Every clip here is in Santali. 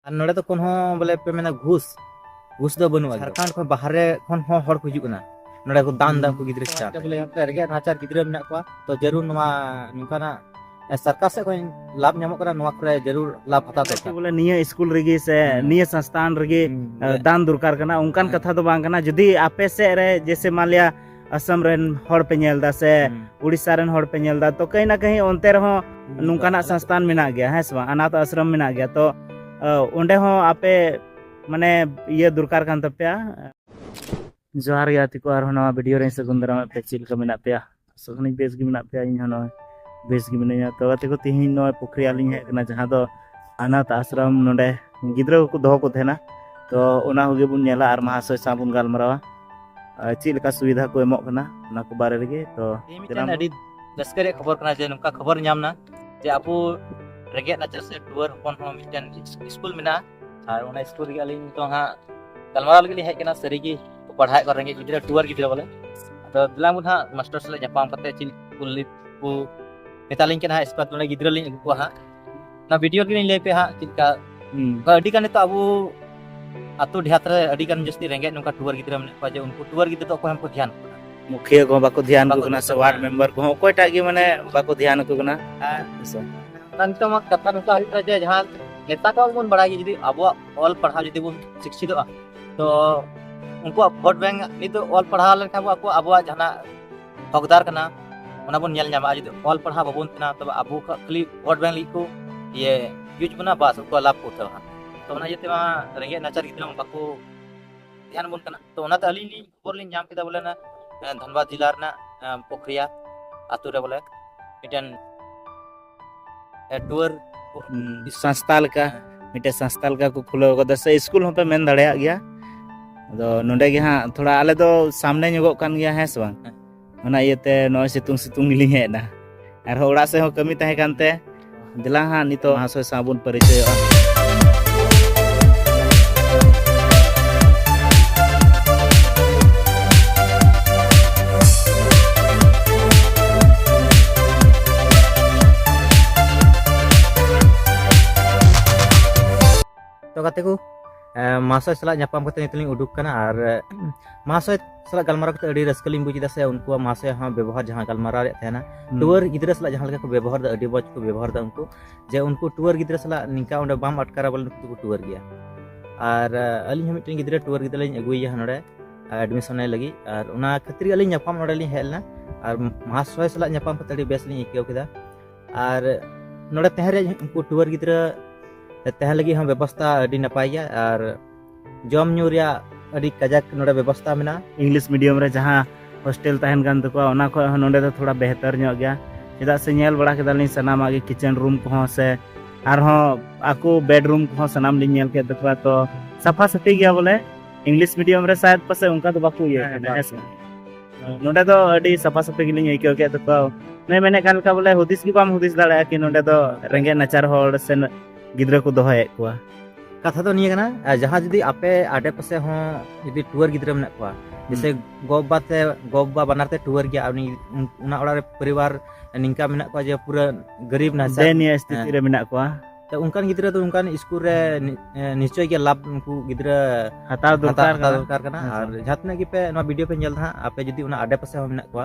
ᱟᱨ ᱱᱚᱰᱮ ᱫᱚ ᱠᱳᱱᱳ ᱵᱚᱞᱮ ᱯᱮ ᱢᱮᱱᱟ ᱜᱷᱩᱥ ᱜᱷᱩᱥ ᱫᱚ ᱵᱟᱹᱱᱩᱜᱼᱟ ᱡᱷᱟᱲᱠᱷᱚᱸᱰ ᱠᱷᱚᱱ ᱵᱟᱦᱨᱮ ᱠᱷᱚᱱ ᱦᱚᱸ ᱦᱚᱲ ᱠᱚ ᱦᱤᱡᱩᱜ ᱠᱟᱱᱟ ᱱᱚᱰᱮ ᱠᱚ ᱫᱟᱱ ᱫᱟ ᱩᱱᱠᱩ ᱜᱤᱫᱽᱨᱟᱹ ᱪᱮᱛᱟᱱ ᱵᱚᱞᱮ ᱨᱮᱸᱜᱮᱡ ᱱᱟᱪᱟᱨ ᱜᱤᱫᱽᱨᱟᱹ ᱢᱮᱱᱟᱜ ᱠᱚᱣᱟ ᱛᱚ ᱡᱟᱹᱨᱩᱲ ᱱᱚᱣᱟ ᱱᱚᱝᱠᱟᱱᱟᱜ ᱥᱚᱨᱠᱟᱨ ᱥᱮᱫ ᱠᱷᱚᱱ ᱞᱟᱵᱷ ᱧᱟᱢᱚᱜ ᱠᱟᱱᱟ ᱱᱚᱣᱟ ᱠᱚᱨᱮ ᱡᱟᱹᱨᱩᱲ ᱞᱟᱵᱷ ᱦᱟᱛᱟᱣ ᱫᱚᱨᱠᱟᱨ ᱵᱚᱞᱮ ᱱᱤᱭᱟᱹ ᱥᱠᱩᱞ ᱨᱮᱜᱮ ᱥᱮ ᱱᱤᱭᱟᱹ ᱥᱚᱝᱥᱛᱷᱟᱱ ᱨᱮᱜᱮ ᱫᱟᱱ ᱫᱚᱨᱠᱟᱨ ᱠᱟᱱᱟ ᱚᱱᱠᱟᱱ ᱠᱟᱛᱷᱟ ᱫᱚ ᱵᱟᱝ ᱠᱟᱱᱟ ᱡᱩᱫᱤ ᱟᱯᱮ ᱥᱮᱫ ᱨᱮ ᱡᱮᱭᱥᱮ ᱢᱟᱱᱞᱤᱭᱟ ᱟᱥᱟᱢ ᱨᱮᱱ ᱦᱚᱲ ᱯᱮ ᱧᱮᱞ ᱮᱫᱟ ᱥᱮ ᱩᱲᱤᱥᱥᱟ ᱨᱮᱱ ᱦᱚᱲ ᱯᱮ ᱧᱮᱞ ᱮᱫᱟ ᱛᱚ ᱠᱟᱹᱦᱤ ᱱᱟ ᱠᱟᱹᱦᱤ ᱚᱱᱛᱮ ᱨᱮᱦᱚᱸ ᱱᱚᱝᱠᱟᱱᱟᱜ ᱥᱚᱝᱥᱛᱷᱟᱱ ᱢᱮᱱᱟᱜ ᱜᱮᱭᱟ ᱦᱮᱸ ᱥᱮ ᱵᱟᱝ ᱟᱱᱟᱛ ᱟᱥᱨᱚᱢ ᱢᱮᱱᱟᱜ ᱜᱮᱭᱟ ᱛᱚ ᱚᱸᱰᱮ ᱦᱚᱸ ᱟᱯᱮ ᱢᱟᱱᱮ ᱤᱭᱟᱹ ᱫᱚᱨᱠᱟᱨ ᱠᱟᱱ ᱛᱟᱯᱮᱭᱟ ᱡᱚᱦᱟᱨ ᱜᱮ ᱟᱛᱤ ᱠᱚ ᱟᱨᱦᱚᱸ ᱱᱚᱣᱟ ᱵᱷᱤᱰᱤᱭᱳ ᱨᱮ ᱥᱟᱹᱜᱩᱱ ᱫᱟᱨᱟᱢ ᱯᱮ ᱪᱮᱫ ᱞᱮᱠᱟ ᱢᱮᱱᱟᱜ ᱯᱮᱭᱟ ᱥᱚᱠᱷᱱᱤ ᱵᱮᱥ ᱜᱮ ᱢᱮᱱᱟᱜ ᱯᱮᱭᱟ ᱤᱧ ᱦᱚᱸ ᱱᱚᱜᱼᱚᱭ ᱵᱮᱥ ᱜᱮ ᱢᱤᱱᱟᱹᱧᱟ ᱛᱚ ᱜᱟᱛᱮ ᱠᱚ ᱛᱮᱦᱮᱧ ᱱᱚᱜᱼᱚᱭ ᱯᱩᱠᱷᱨᱤ ᱟᱹᱞᱤᱧ ᱦᱮᱡ ᱟᱠᱟᱱᱟ ᱡᱟᱦᱟᱸ ᱫᱚ ᱟᱱᱟᱛ ᱟᱥᱨᱚᱢ ᱱᱚᱰᱮ ᱜᱤᱫᱽᱨᱟᱹ ᱠᱚᱠᱚ ᱫᱚᱦᱚ ᱠᱚ ᱛᱟᱦᱮᱱᱟ ᱛᱚ ᱚᱱᱟ ᱠᱚᱜᱮ ᱵᱚᱱ ᱧᱮᱞᱟ ᱟᱨ ᱢᱟᱦᱟᱥᱚᱭ ᱥᱟᱶ ᱵᱚᱱ ᱜᱟᱞᱢᱟᱨᱟᱣᱟ ᱪᱮᱫ ᱞᱮᱠᱟ ᱥᱩᱵᱤᱫᱷᱟ ᱠᱚ ᱮᱢᱚᱜ ᱠᱟᱱᱟ ᱚᱱᱟ ᱠᱚ ᱵᱟᱨᱮ ᱨᱮᱜᱮ ᱛᱚ ᱢᱤᱫᱴᱮᱱ ᱟᱹᱰᱤ ᱨᱟᱹᱥᱠᱟᱹ ᱨᱮᱭᱟᱜ ᱠᱷᱚᱵᱚᱨ ᱠᱟᱱᱟ ᱡᱮ ᱱᱚᱝᱠᱟ ᱠᱷᱚᱵᱚᱨ ᱧᱟᱢ ᱮᱱᱟ ᱡᱮ ᱟᱵᱚ ᱨᱮᱸᱜᱮᱡ ᱱᱟᱪᱟᱨ ᱥᱮ ᱴᱩᱣᱟᱹᱨ ᱦᱚᱯᱚᱱ ᱦᱚᱸ ᱢᱤᱫᱴᱮᱱ ᱥᱠᱩᱞ ᱢᱮᱱᱟᱜᱼᱟ ᱟᱨ ᱚᱱᱟ ᱥᱠᱩᱞ ᱨᱮᱜᱮ ᱟᱹᱞᱤᱧ ᱱᱤᱛᱚᱜ ᱦᱟᱸᱜ ᱜᱟᱞᱢᱟᱨᱟᱣ ᱞᱟᱹᱜᱤᱫ ᱞᱤᱧ ᱦᱮᱡ ᱠᱟᱱᱟ ᱥᱟᱹᱨᱤᱜᱮ ᱠᱚ ᱯᱟᱲᱦᱟᱣᱮᱫ ᱠᱚᱣᱟ ᱨᱮᱸᱜᱮᱡ ᱜᱤᱫᱽᱨᱟᱹ ᱴᱩᱣᱟᱹᱨ ᱜᱤᱫᱽᱨᱟᱹ ᱵᱚᱞᱮ ᱟᱫᱚ ᱫᱮᱞᱟ ᱵᱚᱱ ᱦᱟᱸᱜ ᱢᱟᱥᱴᱟᱨ ᱥᱟᱞᱟᱜ ᱧᱟᱯᱟᱢ ᱠᱟᱛᱮ ᱪᱮᱫ ᱠᱩᱞᱤ ᱠᱚ ᱢᱮᱛᱟᱞᱤᱧ ᱠᱟᱱᱟ ᱦᱟᱸᱜ ᱥᱠᱩᱞ ᱱᱚᱰᱮ ᱜᱤᱫᱽᱨᱟᱹ ᱞᱤᱧ ᱟᱹᱜᱩ ᱠᱚᱣᱟ ᱦᱟᱸᱜ ᱚᱱᱟ ᱵᱷᱤᱰᱤᱭᱳ ᱜᱮᱞᱤᱧ ᱞᱟᱹᱭ ᱯᱮ ᱦᱟᱸᱜ ᱪᱮᱫ ᱞᱮᱠᱟ ᱟᱹᱰᱤ ᱜᱟᱱ ᱱᱤᱛᱚᱜ ᱟᱵᱚ ᱟᱛᱳ ᱰᱮᱦᱟᱛ ᱨᱮ ᱟᱹᱰᱤ ᱜᱟᱱ ᱡᱟᱹᱥᱛᱤ ᱨᱮᱸᱜᱮᱡ ᱱᱚᱝᱠᱟ ᱴᱩᱣᱟᱹᱨ ᱜᱤᱫᱽᱨᱟᱹ ᱢᱮᱱᱟᱜ ᱠᱚᱣᱟ ᱡᱮ ᱩᱱᱠᱩ ᱴᱩᱣᱟᱹᱨ ᱜᱤᱫᱽᱨᱟᱹ ᱫᱚ ᱚᱠᱚᱭ ᱦᱚᱸ ᱠᱚ ᱫᱷᱮᱭᱟᱱ ᱠᱚ ᱢᱩᱠᱷᱤᱭᱟᱹ ᱠᱚᱦᱚᱸ ᱵᱟᱠᱚ ᱫᱷᱮᱭᱟᱱ ᱠᱚ ᱠᱟᱱᱟ ᱥᱮ ᱣᱟᱨᱰ ᱢᱮᱢᱵᱟᱨ ᱠᱚᱦᱚᱸ ᱚᱠᱚᱭᱴᱟᱜ ᱜᱮ ᱢᱟᱱᱮ ᱵᱟᱠᱚ ᱫᱷᱮᱭᱟᱱ ᱠᱚ ᱠᱟᱱᱟ ᱱᱤᱛᱚᱜ ᱢᱟ ᱠᱟᱛᱷᱟ ᱱᱚᱝᱠᱟ ᱦᱩᱭᱩᱜ ᱠᱟᱱᱟ ᱡᱮ ᱡᱟᱦᱟᱸ ᱱᱮᱛᱟ ᱠᱚ ᱵᱚᱱ ᱵᱟᱲᱟᱭ ᱡᱩᱫᱤ ᱟᱵᱚᱣᱟᱜ ᱚᱞ ᱯᱟᱲᱦᱟᱣ ᱡᱩᱫᱤ ᱵᱚᱱ ᱥᱤᱠᱪᱷᱤᱛᱚᱜᱼᱟ ᱛᱚ ᱩᱱᱠᱩᱣᱟᱜ ᱵᱷᱳᱴ ᱵᱮᱝᱠ ᱱᱤᱛᱚᱜ ᱚᱞ ᱯᱟᱲᱦᱟᱣ ᱞᱮᱱᱠᱷᱟᱱ ᱟᱠᱚᱣᱟᱜ ᱟᱵᱚᱣᱟᱜ ᱡᱟᱦᱟᱱᱟᱜ ᱦᱚᱠᱫᱟᱨ ᱠᱟᱱᱟ ᱚᱱᱟ ᱵᱚᱱ ᱧᱮᱞ ᱧᱟᱢᱟ ᱡᱩᱫᱤ ᱚᱞ ᱯᱟᱲᱦᱟᱣ ᱵᱟᱵᱚᱱ ᱛᱟᱦᱮᱱᱟ ᱛᱚᱵᱮ ᱟᱵᱚ ᱠᱷᱟᱹᱞᱤ ᱵᱷᱳᱴ ᱵᱮᱝᱠ ᱞᱟᱹᱜᱤᱫ ᱠᱚ ᱤᱭᱟᱹ ᱤᱭᱩᱡᱽ ᱵᱚᱱᱟ ᱵᱟᱥ ᱩᱱᱠᱩᱣᱟᱜ ᱞᱟᱵᱷ ᱠᱚ ᱩᱴᱷᱟᱹᱣᱟ ᱛᱚ ᱚᱱᱟ ᱤᱭᱟᱹᱛᱮ ᱢᱟ ᱨᱮᱸᱜᱮᱡ ᱱᱟᱪᱟᱨ ᱜᱤᱫᱽᱨᱟᱹ ᱢᱟ ᱵᱟᱠᱚ ᱫᱷᱮᱭᱟᱱ ᱵᱚᱱ ᱠᱟᱱᱟ ᱛᱚ ᱚᱱᱟᱛᱮ ᱟᱹᱞᱤᱧ ᱞᱤᱧ ᱠᱷᱚᱵᱚᱨ ᱞᱤᱧ ᱧᱟᱢ ᱠᱮᱫᱟ ᱵᱚᱞᱮ ᱚᱱᱟ ᱫᱷᱟᱱᱵᱟᱫᱽ ᱡᱮᱞᱟ ᱨᱮᱱᱟᱜ ᱯᱚᱠᱨᱤᱭᱟ ᱟᱛᱳ ᱨᱮ ᱵᱚᱞᱮ ᱢᱤᱫᱴᱮᱱ ᱴᱩᱣᱟᱨ ᱥᱚᱝᱥᱛᱷᱟ ᱞᱮᱠᱟ ᱢᱤᱫᱴᱮᱱ ᱥᱚᱝᱥᱛᱷᱟ ᱞᱮᱠᱟ ᱠᱚ ᱠᱷᱩᱞᱟᱹᱣ ᱠᱟᱫᱟ ᱥᱮ ᱥᱠᱩᱞ ᱦᱚᱸᱯᱮ ᱢᱮᱱ ᱫᱟᱲᱮᱭᱟᱜ ᱜᱮᱭᱟ ᱟᱫᱚ ᱱᱚᱰᱮ ᱜᱮ ᱦᱟᱸᱜ ᱛᱷᱚᱲᱟ ᱟᱞᱮ ᱫᱚ ᱥᱟᱢᱱᱮ ᱧᱚᱜᱚᱜ ᱠᱟᱱ ᱜᱮᱭᱟ ᱦᱮᱸ ᱥᱮ ᱵᱟᱝ ᱚᱱᱟ ᱤᱭᱟᱹᱛᱮ ᱱᱚᱜᱼᱚᱭ ᱥᱤᱛᱩᱝ ᱥᱤᱛᱩᱝ ᱜᱮᱞᱤᱧ ᱦᱮᱡ ᱮᱱᱟ ᱟᱨᱦᱚᱸ ᱚᱲᱟᱜ ᱥᱮᱫ ᱦᱚᱸ ᱠᱟᱹᱢᱤ ᱛᱟᱦᱮᱸ ᱠᱟᱱᱛᱮ ᱫᱮᱞᱟ ᱦᱟᱸᱜ ᱱᱤᱛᱚᱜ ᱢᱟᱦᱟᱥᱚᱭ ᱥᱟᱶ ᱵᱚᱱ ᱯᱟᱨᱤᱪᱚᱭᱚᱜᱼᱟ ᱛᱚ ᱜᱟᱛᱮ ᱠᱚ ᱢᱟᱥᱚᱭ ᱥᱟᱞᱟᱜ ᱧᱟᱯᱟᱢ ᱠᱟᱛᱮ ᱱᱤᱛᱚᱜ ᱞᱤᱧ ᱩᱰᱩᱠ ᱠᱟᱱᱟ ᱟᱨ ᱢᱟᱥᱚᱭ ᱥᱟᱞᱟᱜ ᱜᱟᱞᱢᱟᱨᱟᱣ ᱠᱟᱛᱮ ᱟᱹᱰᱤ ᱨᱟᱹᱥᱠᱟᱹ ᱞᱤᱧ ᱵᱩᱡ ᱮᱫᱟ ᱥᱮ ᱩᱱᱠᱩᱣᱟᱜ ᱢᱟᱥᱚᱭ ᱦᱚᱸ ᱵᱮᱵᱚᱦᱟᱨ ᱡᱟᱦᱟᱸ ᱜᱟᱞᱢᱟᱨᱟᱣ ᱨᱮᱭᱟᱜ ᱛᱟᱦᱮᱱᱟ ᱴᱩᱣᱟᱹᱨ ᱜᱤᱫᱽᱨᱟᱹ ᱥᱟᱞᱟᱜ ᱡᱟᱦᱟᱸ ᱞᱮᱠᱟ ᱠᱚ ᱵᱮᱵᱚᱦᱟᱨ ᱮᱫᱟ ᱟᱹᱰᱤ ᱢᱚᱡᱽ ᱠᱚ ᱵᱮᱵᱚᱦᱟᱨ ᱮᱫᱟ ᱩᱱᱠᱩ ᱡᱮ ᱩᱱᱠᱩ ᱴᱩᱣᱟᱹᱨ ᱜᱤᱫᱽᱨᱟᱹ ᱥᱟᱞᱟᱜ ᱱᱤᱝᱠᱟ ᱚᱸᱰᱮ ᱵᱟᱢ ᱟᱴᱠᱟᱨᱟ ᱵᱚᱞᱮ ᱱᱩᱠᱩ ᱫᱚᱠᱚ ᱴᱩᱣᱟᱹᱨ ᱜᱮᱭᱟ ᱟᱨ ᱟᱹᱞᱤᱧ ᱦᱚᱸ ᱢᱤᱫᱴᱮᱱ ᱜᱤᱫᱽᱨᱟᱹ ᱴᱩᱣᱟᱹᱨ ᱜᱤᱫᱽᱨᱟᱹ ᱞᱤᱧ ᱟᱹᱜᱩᱭᱮᱭᱟ ᱱᱚᱰᱮ ᱮᱰᱢᱤᱥᱚᱱᱮ ᱞᱟᱹᱜᱤᱫ ᱟᱨ ᱚᱱᱟ ᱠᱷᱟᱹᱛᱤᱨ ᱜᱮ ᱟᱹᱞᱤᱧ ᱧᱟᱯᱟᱢ ᱱᱚᱰᱮ ᱞᱤᱧ ᱦᱮᱡ ᱞᱮᱱᱟ ᱟᱨ ᱢᱟᱦᱟᱥᱚᱭ ᱥᱟᱞᱟᱜ ᱧᱟᱯᱟᱢ ᱠᱟᱛᱮ ᱟᱹᱰᱤ ᱵᱮᱥ ᱞᱤᱧ ᱟᱹᱭᱠᱟᱹᱣ ᱠᱮᱫᱟ ᱟᱨ ᱱᱚᱰᱮ ᱛᱟᱦᱮᱸ ᱨᱮ ᱩᱱᱠᱩ ᱴᱩᱣᱟᱹᱨ ᱜᱤᱫᱽᱨᱟᱹ ᱛᱟᱦᱮᱸ ᱞᱟᱹᱜᱤᱫ ᱦᱚᱸ ᱵᱮᱵᱚᱥᱛᱷᱟ ᱟᱹᱰᱤ ᱱᱟᱯᱟᱭ ᱜᱮᱭᱟ ᱟᱨ ᱡᱚᱢ ᱧᱩ ᱨᱮᱭᱟᱜ ᱟᱹᱰᱤ ᱠᱟᱡᱟᱠ ᱱᱚᱰᱮ ᱵᱮᱵᱚᱥᱛᱟ ᱢᱮᱱᱟᱜᱼᱟ ᱤᱝᱞᱤᱥ ᱢᱤᱰᱤᱭᱟᱢ ᱨᱮ ᱡᱟᱦᱟᱸ ᱦᱳᱥᱴᱮᱞ ᱛᱟᱦᱮᱱ ᱠᱟᱱ ᱛᱟᱠᱚᱣᱟ ᱚᱱᱟ ᱠᱷᱚᱱ ᱦᱚᱸ ᱱᱚᱰᱮ ᱫᱚ ᱛᱷᱚᱲᱟ ᱵᱮᱦᱛᱟᱨ ᱧᱚᱜ ᱜᱮᱭᱟ ᱪᱮᱫᱟᱜ ᱥᱮ ᱧᱮᱞ ᱵᱟᱲᱟ ᱠᱮᱫᱟᱞᱤᱧ ᱥᱟᱱᱟᱢᱟᱜ ᱜᱮ ᱠᱤᱪᱮᱱ ᱨᱩᱢ ᱠᱚᱦᱚᱸ ᱥᱮ ᱟᱨᱦᱚᱸ ᱟᱠᱚ ᱵᱮᱰᱨᱩᱢ ᱠᱚᱦᱚᱸ ᱥᱟᱱᱟᱢ ᱞᱤᱧ ᱧᱮᱞ ᱠᱮᱫ ᱛᱟᱠᱚᱣᱟ ᱛᱚ ᱥᱟᱯᱷᱟ ᱥᱟᱹᱯᱷᱤ ᱜᱮᱭᱟ ᱵᱚᱞᱮ ᱤᱝᱞᱤᱥ ᱢᱤᱰᱤᱭᱟᱢ ᱨᱮ ᱥᱟᱭᱟᱫ ᱯᱟᱥᱮ ᱚᱱᱠᱟ ᱫᱚ ᱵᱟᱠᱚ ᱤᱭᱟᱹ ᱠᱟᱱᱟ ᱦᱮᱸ ᱥᱮ ᱱᱚᱰᱮ ᱫᱚ ᱟᱹᱰᱤ ᱥᱟᱯᱷᱟ ᱥᱟᱹᱯᱷᱤ ᱜᱮᱞᱤᱧ ᱟᱹᱭᱠᱟᱹᱣ ᱠᱮᱫ ᱛᱟᱠᱚᱣᱟ ᱱᱩᱭ ᱢᱮᱱᱮᱫ ᱠᱟᱱ ᱞᱮᱠᱟ ᱵᱚᱞᱮ ᱦᱩᱫᱤᱥ ᱜᱮ ᱵᱟᱢ ᱦᱩᱫᱤᱥ ᱫᱟᱲᱮᱭᱟᱜᱼᱟ ᱠᱤ ᱱᱚᱰᱮ ᱫᱚ ᱨᱮᱸᱜᱮᱡ ᱱᱟᱪᱟᱨ ᱦᱚᱲ ᱥᱮ ᱜᱤᱫᱽᱨᱟᱹ ᱠᱚ ᱫᱚᱦᱚᱭᱮᱫ ᱠᱚᱣᱟ ᱠᱟᱛᱷᱟ ᱫᱚ ᱱᱤᱭᱟᱹ ᱠᱟᱱᱟ ᱡᱟᱦᱟᱸ ᱡᱩᱫᱤ ᱟᱯᱮ ᱟᱰᱮ ᱯᱟᱥᱮ ᱦᱚᱸ ᱡᱩᱫᱤ ᱴᱩᱣᱟᱨ ᱜᱤᱫᱽᱨᱟᱹ ᱢᱮᱱᱟᱜ ᱠᱚᱣᱟ ᱡᱮᱥᱮ ᱜᱚ ᱵᱟᱵᱟ ᱛᱮ ᱜᱚ ᱵᱟᱵᱟ ᱵᱟᱱᱟᱨ ᱛᱮ ᱴᱩᱣᱟᱨ ᱜᱮᱭᱟ ᱩᱱᱤ ᱚᱱᱟ ᱚᱲᱟᱜ ᱨᱮ ᱯᱚᱨᱤᱵᱟᱨ ᱱᱤᱝᱠᱟ ᱢᱮᱱᱟᱜ ᱠᱚᱣᱟ ᱡᱮ ᱯᱩᱨᱟᱹ ᱜᱟᱨᱤᱵ ᱱᱟ ᱥᱮ ᱱᱤᱭᱟᱹ ᱥᱛᱷᱤᱛᱤ ᱨᱮ ᱢᱮᱱᱟᱜ ᱠᱚᱣᱟ ᱛᱚ ᱚᱱᱠᱟᱱ ᱜᱤᱫᱽᱨᱟᱹ ᱫᱚ ᱚᱱᱠᱟᱱ ᱥᱠᱩᱞ ᱨᱮ ᱱᱤᱥᱪᱚᱭ ᱜᱮ ᱞᱟᱵᱷ ᱩᱱᱠᱩ ᱜᱤᱫᱽᱨᱟᱹ ᱦᱟᱛᱟᱣ ᱫᱚᱨᱠᱟᱨ ᱫᱚᱨᱠᱟᱨ ᱠᱟᱱᱟ ᱟᱨ ᱡᱟᱦᱟᱸ ᱛᱤᱱᱟᱹᱜ ᱜᱮᱯᱮ ᱱᱚᱣᱟ ᱵᱷᱤᱰᱤᱭᱳ ᱯᱮ ᱧᱮᱞ ᱫᱟ ᱦᱟᱸᱜ ᱟᱯᱮ ᱡᱩᱫᱤ ᱚᱱᱟ ᱟᱰᱮ ᱯᱟᱥᱮ ᱦᱚᱸ ᱢᱮᱱᱟᱜ ᱠᱚᱣᱟ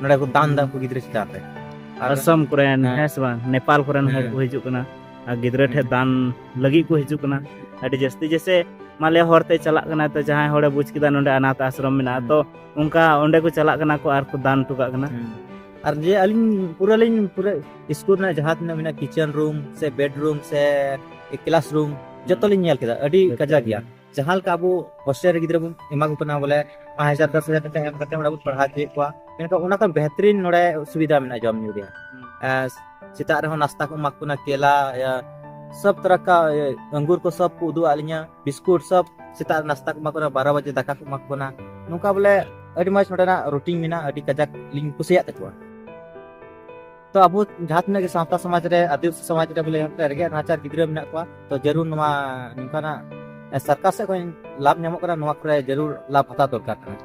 ᱱᱚᱰᱮ ᱠᱚ ᱫᱟᱱ ᱫᱟ ᱩᱱᱠᱩ ᱜᱤᱫᱽᱨᱟᱹ ᱪᱮᱛᱟᱱ ᱨᱮ ᱟᱨ ᱟᱥᱟᱢ ᱠᱚᱨᱮᱱ ᱦᱮᱸ᱾ ᱦᱮᱸ ᱥᱮ ᱵᱟᱝ ᱱᱮᱯᱟᱞ ᱠᱚᱨᱮᱱ ᱦᱚᱲ ᱦᱮᱸ᱾ ᱠᱚ ᱦᱤᱡᱩᱜ ᱠᱟᱱᱟ ᱟᱨ ᱜᱤᱫᱽᱨᱟᱹ ᱴᱷᱮᱡ ᱫᱟᱱ ᱞᱟᱹᱜᱤᱫ ᱠᱚ ᱦᱤᱡᱩᱜ ᱠᱟᱱᱟ ᱟᱹᱰᱤ ᱡᱟᱹᱥᱛᱤ ᱡᱮᱥᱮ ᱢᱟᱞᱮ ᱦᱚᱨᱛᱮ ᱪᱟᱞᱟᱜ ᱠᱟᱱᱟ ᱛᱚ ᱡᱟᱦᱟᱸᱭ ᱦᱚᱲᱮ ᱵᱩᱡᱽ ᱠᱮᱫᱟ ᱱᱚᱰᱮ ᱟᱱᱟᱛᱷ ᱟᱥᱨᱚᱢ ᱢᱮᱱᱟᱜᱼᱟ ᱛᱚ ᱚᱱᱠᱟ ᱚᱸᱰᱮ ᱠᱚ ᱪᱟᱞᱟᱜ ᱠᱟᱱᱟ ᱠᱚ ᱟᱨ ᱠᱚ ᱫᱟᱱ ᱦᱚᱴᱚ ᱠᱟᱜ ᱠᱟᱱᱟ ᱟᱨ ᱡᱮ ᱟᱹᱞᱤᱧ ᱯᱩᱨᱟᱹ ᱞᱤᱧ ᱯᱩᱨᱟᱹ ᱥᱠᱩᱞ ᱨᱮᱱᱟᱜ ᱡᱟᱦᱟᱸ ᱛᱤᱱᱟᱹᱜ ᱢᱮᱱᱟᱜᱼᱟ ᱠᱤᱪᱮᱱ ᱨᱩᱢ ᱥᱮ ᱵᱮᱰᱨᱩᱢ ᱥᱮ ᱠᱞᱟᱥ ᱨᱩᱢ ᱡᱚᱛᱚ ᱞᱤᱧ ᱧᱮᱞ ᱠᱮᱫᱟ ᱟᱹᱰᱤ ᱠᱟᱡᱟᱠ ᱜᱮᱭᱟ ᱡᱟᱦᱟᱸ ᱞᱮᱠᱟ ᱟᱵᱚ ᱦᱳᱥᱴᱮᱞ ᱨᱮ ᱜᱤᱫᱽᱨᱟᱹ ᱵᱚᱱ ᱮᱢᱟ ᱠᱚ ᱠᱟᱱᱟ ᱵᱚᱞᱮ ᱯᱟᱸᱪ ᱦᱟᱡᱟᱨ ᱫᱚᱥ ᱦᱟᱡᱟᱨ ᱴᱟᱠᱟ ᱮᱢ ᱠᱟᱛᱮ ᱚᱸᱰᱮ ᱵᱚᱱ ᱯᱟᱲᱦᱟᱣ ᱦᱚᱪᱚᱭᱮᱫ ᱠᱚᱣᱟ ᱢᱮᱱᱠᱷᱟᱱ ᱚᱱᱟ ᱠᱷᱚᱱ ᱵᱮᱦᱛᱨᱤᱱ ᱱᱚᱰᱮ ᱥᱩᱵᱤᱫᱷᱟ ᱢᱮᱱᱟᱜᱼᱟ ᱡᱚᱢ ᱧᱩ ᱨᱮᱭᱟᱜ ᱥᱮᱛᱟᱜ ᱨᱮᱦᱚᱸ ᱱᱟᱥᱛᱟ ᱠᱚ ᱮᱢᱟ ᱠᱚ ᱠᱟᱱᱟ ᱠᱮᱞᱟ ᱥᱚᱵ ᱛᱚᱨᱟ ᱠᱟ ᱟᱝᱜᱩᱨ ᱠᱚ ᱥᱚᱵ ᱠᱚ ᱩᱫᱩᱜ ᱟᱫ ᱞᱤᱧᱟ ᱵᱤᱥᱠᱩᱴ ᱥᱚᱵ ᱥᱮᱛᱟᱜ ᱨᱮ ᱱᱟᱥᱛᱟ ᱠᱚ ᱮᱢᱟ ᱠᱚ ᱠᱟᱱᱟ ᱵᱟᱨᱚ ᱵᱟᱡᱮ ᱫᱟᱠᱟ ᱠᱚ ᱮᱢᱟ ᱠᱚ ᱠᱟᱱᱟ ᱱᱚᱝᱠᱟ ᱵᱚᱞᱮ ᱟᱹᱰᱤ ᱢᱚᱡᱽ ᱱᱚᱰᱮᱱᱟᱜ ᱨᱩᱴᱤᱱ ᱢᱮᱱᱟᱜᱼᱟ ᱟᱹᱰᱤ ᱠᱟᱡᱟᱠ ᱞᱤᱧ ᱠᱩᱥᱤᱭᱟᱜ ᱛᱟᱠᱚᱣᱟ ᱛᱚ ᱟᱵᱚ ᱡᱟᱦᱟᱸ ᱛᱤᱱᱟᱹᱜ ᱜᱮ ᱥᱟᱶᱛᱟ ᱥᱚᱢᱟᱡᱽ ᱨᱮ ᱟᱹᱫᱤᱵᱟᱹᱥᱤ ᱥᱚᱢᱟᱡᱽ ᱨᱮ ᱵᱚᱞᱮ ᱨᱮᱸᱜᱮᱡ ᱱᱟᱪᱟᱨ ᱜᱤᱫᱽᱨᱟᱹ ᱢᱮᱱᱟᱜ ᱠᱚᱣᱟ ᱛᱚ ᱡᱟᱹᱨᱩᱲ ᱱᱚᱣᱟ ᱱᱚᱝᱠᱟᱱᱟᱜ ᱥᱚᱨᱠᱟᱨ ᱥᱮᱫ ᱠᱷᱚᱱ ᱞᱟᱵᱷ ᱧᱟᱢᱚᱜ ᱠᱟᱱᱟ ᱱᱚᱣᱟ ᱠᱚᱨᱮ ᱡᱟᱹᱨᱩᱲ ᱞᱟᱵᱷ ᱦᱟᱛᱟᱣ ᱫᱚᱨᱠᱟᱨ ᱠᱟᱱᱟ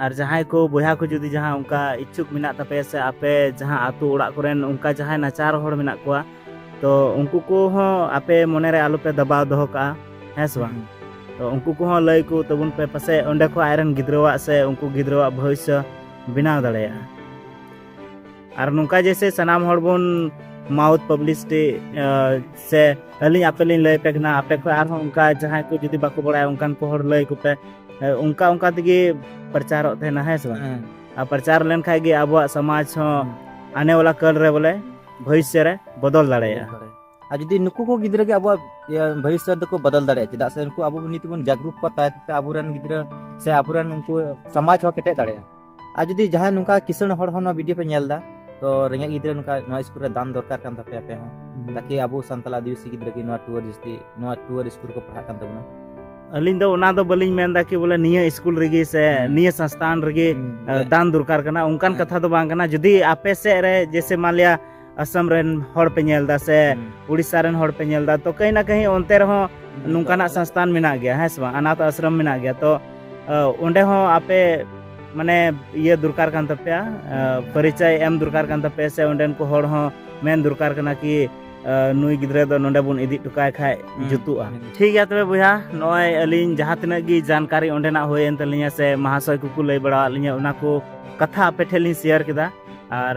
ᱟᱨ ᱡᱟᱦᱟᱸᱭ ᱠᱚ ᱵᱚᱭᱦᱟ ᱠᱚ ᱡᱩᱫᱤ ᱡᱟᱦᱟᱸ ᱚᱱᱠᱟ ᱤᱪᱪᱷᱩᱠ ᱢᱮᱱᱟᱜ ᱛᱟᱯᱮᱭᱟ ᱥᱮ ᱟᱯᱮ ᱡᱟᱦᱟᱸ ᱟᱛᱳ ᱚᱲᱟᱜ ᱠᱚᱨᱮᱱ ᱚᱱᱠᱟ ᱡᱟᱦᱟᱸᱭ ᱱᱟᱪᱟᱨ ᱦᱚᱲ ᱢᱮᱱᱟᱜ ᱠᱚᱣᱟ ᱛᱚ ᱩᱱᱠᱩ ᱠᱚᱦᱚᱸ ᱟᱯᱮ ᱢᱚᱱᱮᱨᱮ ᱟᱞᱚᱯᱮ ᱫᱟᱵᱟᱣ ᱫᱚᱦᱚ ᱠᱟᱜᱼᱟ ᱦᱮᱸ ᱥᱮ ᱵᱟᱝ ᱛᱚ ᱩᱱᱠᱩ ᱠᱚᱦᱚᱸ ᱞᱟᱹᱭ ᱠᱚ ᱛᱟᱵᱚᱱ ᱯᱮ ᱯᱟᱥᱮᱡ ᱚᱸᱰᱮ ᱠᱷᱚᱱ ᱟᱡᱨᱮᱱ ᱜᱤᱫᱽᱨᱟᱹᱣᱟᱜ ᱥᱮ ᱩᱱᱠᱩ ᱜᱤᱫᱽᱨᱟᱹᱣᱟᱜ ᱵᱷᱚᱵᱤᱥᱥᱚ ᱵᱮᱱᱟᱣ ᱫᱟᱲᱮᱭᱟᱜᱼᱟ ᱟᱨ ᱱᱚᱝᱠᱟ ᱡᱮᱥᱮ ᱥᱟᱱᱟᱢ ᱦᱚᱲ ᱵᱚᱱ ᱢᱟᱣᱩᱛᱷ ᱯᱟᱵᱽᱞᱤᱥᱤᱴᱤ ᱥᱮ ᱟᱹᱞᱤᱧ ᱟᱯᱮ ᱞᱤᱧ ᱞᱟᱹᱭ ᱯᱮ ᱠᱟᱱᱟ ᱟᱯᱮ ᱠᱷᱚᱱ ᱟᱨᱦᱚᱸ ᱚᱱᱠᱟ ᱡᱟᱦᱟᱸᱭ ᱠᱚ ᱡᱩᱫᱤ ᱵᱟᱠᱚ ᱵᱟᱲᱟᱭᱟ ᱚᱱᱠᱟᱱ ᱠᱚ ᱦᱚᱲ ᱞᱟᱹᱭ ᱠᱚᱯᱮ ᱚᱱᱠᱟ ᱚᱱᱠᱟ ᱛᱮᱜᱮ ᱯᱨᱚᱪᱟᱨᱚᱜ ᱛᱟᱦᱮᱱᱟ ᱦᱮᱸ ᱥᱮ ᱵᱟᱝ ᱟᱨ ᱯᱨᱚᱪᱟᱨ ᱞᱮᱱᱠᱷᱟᱡ ᱜᱮ ᱟᱵᱚᱣᱟᱜ ᱥᱚᱢᱟᱡᱽ ᱦᱚᱸ ᱟᱱᱮ ᱣᱟᱞᱟ ᱠᱟᱞ ᱨᱮ ᱵᱚᱞᱮ ᱵᱷᱚᱵᱤᱥᱥᱚ ᱨᱮ ᱵᱚᱫᱚᱞ ᱫᱟᱲᱮᱭᱟᱜᱼᱟ ᱟᱨ ᱡᱩᱫᱤ ᱱᱩᱠᱩ ᱠᱚ ᱜᱤᱫᱽᱨᱟᱹ ᱜᱮ ᱟᱵᱚᱣᱟᱜ ᱵᱷᱚᱵᱤᱥᱥᱚ ᱫᱚᱠᱚ ᱵᱚᱫᱚᱞ ᱫᱟᱲᱮᱭᱟᱜᱼᱟ ᱪᱮᱫᱟᱜ ᱥᱮ ᱩᱱᱠᱩ ᱟᱵᱚ ᱱᱤᱛ ᱵᱚᱱ ᱡᱟᱜᱽᱨᱩᱠ ᱠᱚᱣᱟ ᱛᱟᱭᱚᱢ ᱛᱮ ᱟᱵᱚᱨᱮᱱ ᱜᱤᱫᱽᱨᱟᱹ ᱥᱮ ᱟᱵᱚᱨᱮᱱ ᱩᱱᱠᱩ ᱥᱚᱢᱟᱡᱽ ᱦᱚᱸ ᱠᱮᱴᱮᱡ ᱫᱟᱲᱮᱭᱟᱜᱼᱟ ᱟᱨ ᱡᱩᱫᱤ ᱡᱟᱦᱟᱸᱭ ᱱᱚᱝᱠᱟ ᱠᱤᱥᱟᱹᱬ ᱦᱚᱲ ᱦᱚᱸ ᱱᱚᱣᱟ ᱵᱷᱤᱰᱤᱭᱳ ᱯᱮ ᱧᱮᱞ ᱮᱫᱟ ᱛᱚ ᱨᱮᱸᱜᱮᱡ ᱜᱤᱫᱽᱨᱟᱹ ᱱᱚᱝᱠᱟ ᱱᱚᱣᱟ ᱥᱠᱩᱞ ᱨᱮ ᱫᱟᱱ ᱫᱚᱨᱠᱟᱨ ᱠᱟᱱ ᱛᱟᱯᱮᱭᱟ ᱟᱯᱮ ᱦᱚᱸ ᱛᱟᱠᱤ ᱟᱵᱚ ᱥᱟᱱᱛᱟᱲ ᱟᱹᱫᱤᱵᱟᱹᱥᱤ ᱜᱤᱫᱽᱨᱟᱹ ᱜᱮ ᱱᱚᱣᱟ ᱴᱩᱣᱟᱨ ᱡᱟᱹᱥᱛᱤ ᱱᱚᱣᱟ ᱴᱩᱣᱟᱨ ᱥᱠᱩᱞ ᱠᱚ ᱯᱟᱲᱦᱟᱜ ᱠᱟᱱ ᱛᱟᱵᱚᱱᱟ ᱟᱹᱞᱤᱧ ᱫᱚ ᱚᱱᱟ ᱫᱚ ᱵᱟᱹᱞᱤᱧ ᱢᱮᱱᱫᱟ ᱠᱤ ᱵᱚᱞᱮ ᱱᱤᱭᱟᱹ ᱥᱠᱩᱞ ᱨᱮᱜᱮ ᱥᱮ ᱱᱤᱭᱟᱹ ᱥᱚᱝᱥᱛᱷᱟᱱ ᱨᱮᱜᱮ ᱫᱟᱱ ᱫᱚᱨᱠᱟᱨ ᱠᱟᱱᱟ ᱚᱱᱠᱟᱱ ᱠᱟᱛᱷᱟ ᱫᱚ ᱵᱟᱝ ᱠᱟᱱᱟ ᱡᱩᱫᱤ ᱟᱯᱮ ᱥᱮᱫ ᱨᱮ ᱡᱮᱥᱮ ᱢᱟᱱ ᱞᱤᱭᱟ ᱟᱥᱟᱢ ᱨᱮᱱ ᱦᱚᱲ ᱯᱮ ᱧᱮᱞ ᱮᱫᱟ ᱥᱮ ᱩᱲᱤᱥᱥᱟ ᱨᱮᱱ ᱦᱚᱲ ᱯᱮ ᱧᱮᱞ ᱮᱫᱟ ᱛᱚ ᱠᱟᱹᱦᱤ ᱱᱟ ᱠᱟᱹᱦᱤ ᱚᱱᱛᱮ ᱨᱮᱦᱚᱸ ᱱᱚᱝᱠᱟᱱᱟᱜ ᱥᱟᱥᱛᱟᱱ ᱢᱮᱱᱟᱜ ᱜᱮᱭᱟ ᱦᱮᱸ ᱥᱮ ᱵᱟᱝ ᱟᱱᱟᱛᱷ ᱟᱥᱨᱚᱢ ᱢᱮᱱᱟᱜ ᱜᱮᱭᱟ ᱛᱚ ᱚᱸᱰᱮ ᱦᱚᱸ ᱟᱯᱮ ᱢᱟᱱᱮ ᱤᱭᱟᱹ ᱫᱚᱨᱠᱟᱨ ᱠᱟᱱ ᱛᱟᱯᱮᱭᱟ ᱯᱚᱨᱤᱪᱚᱭ ᱮᱢ ᱫᱚᱨᱠᱟᱨ ᱠᱟᱱ ᱛᱟᱯᱮᱭᱟ ᱥᱮ ᱚᱸᱰᱮᱱ ᱠᱚ ᱦᱚᱲ ᱦᱚᱸ ᱢᱮᱱ ᱫᱚᱨᱠᱟᱨ ᱠᱟᱱᱟ ᱠᱤ ᱱᱩᱭ ᱜᱤᱫᱽᱨᱟᱹ ᱫᱚ ᱱᱚᱰᱮ ᱵᱚᱱ ᱤᱫᱤ ᱦᱚᱴᱚ ᱠᱟᱭ ᱠᱷᱟᱡ ᱡᱩᱛᱩᱜᱼᱟ ᱴᱷᱤᱠ ᱜᱮᱭᱟ ᱛᱚᱵᱮ ᱵᱚᱭᱦᱟ ᱱᱚᱜᱼᱚᱭ ᱟᱹᱞᱤᱧ ᱡᱟᱦᱟᱸ ᱛᱤᱱᱟᱹᱜ ᱜᱮ ᱡᱟᱱᱠᱟᱨᱤ ᱚᱸᱰᱮᱱᱟᱜ ᱦᱩᱭᱮᱱ ᱛᱟᱹᱞᱤᱧᱟ ᱥᱮ ᱢᱟᱦᱟᱥᱚᱭ ᱠᱚᱠᱚ ᱞᱟᱹᱭ ᱵᱟᱲᱟᱣᱟᱫ ᱞᱤᱧᱟ ᱚᱱᱟ ᱠᱚ ᱠᱟᱛᱷᱟ ᱟᱯᱮ ᱴᱷᱮᱱ ᱞᱤᱧ ᱥᱮᱭᱟᱨ ᱠᱮᱫᱟ ᱟᱨ